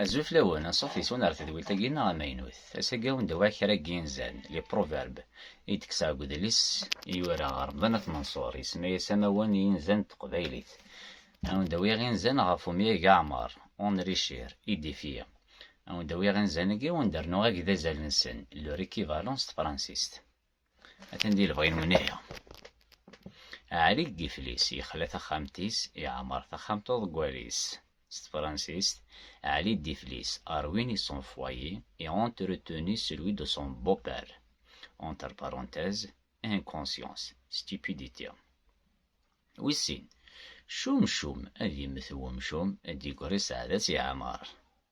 Azul fell-awen, anṣuf yes-wen ɣer tedwilt-agi neɣ amaynut. Ass-agi ad wen-d-awiɣ kra n yinzan, les proverbes, i d-kkseɣ deg udlis i yura Remḍan At Manṣur, yesma-as Amawen i yinzan n teqbaylit. Ad wen-d-awiɣ inzan ɣef umyag Aɛmar, enrichir, édifier. Ad wen-d-awiɣ inzan-agi ad wen-d-rnuɣ agdazal-nsen, leur équivalent, s tefransist. Atan di lebɣi-nwen ihi. Ɛli deg iflis, yexla taxxamt-is, iɛmer taxxamt uḍeggal-is. S tefransist, Ɛli deg iflis a ruiné son foyer et a entretenu celui de son beau-père. Entre parenthèses, inconscience, stupidité. Wis sin, Cumcum, ad yemmet wemcum, ad d-yeggri sseɛd-as i Ɛmer.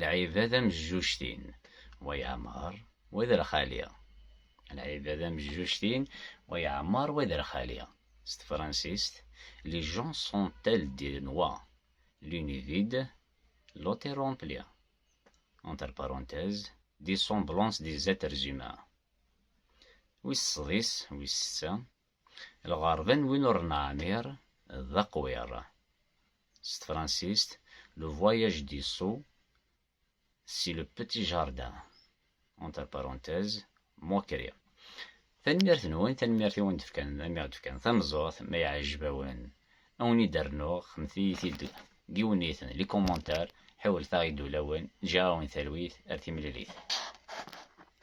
Lɛibad am jjuctin, wa yeɛmer, wa d rxali. Lɛibad am jjuctin, wa yeɛmer, wa d rxali. S tefransist, Les gens sont tels des noix, l'une est vide, l'autre est remplie. Entre parenthèses, des semblances des êtres humains. Wis sḍis, wis setta, Lɣerba n win ur neɛmir d aqwir. S tefransist, Le voyage du sot, c'est le petit jardin. Entre parenthèses, Mokri. Tanemmirt-nwen, tanemmirt i wen-d-fkan, mi ɣ-d-fkan tameẓẓuɣt, ma yeɛjeb-awen, ad wen-id-rnuɣ, xedmet-iyi-t-id deg yiwenniten, les commentaires, ḥiwlet-aɣ-id ulawen, ǧǧiɣ-awen talwit ar timlilit.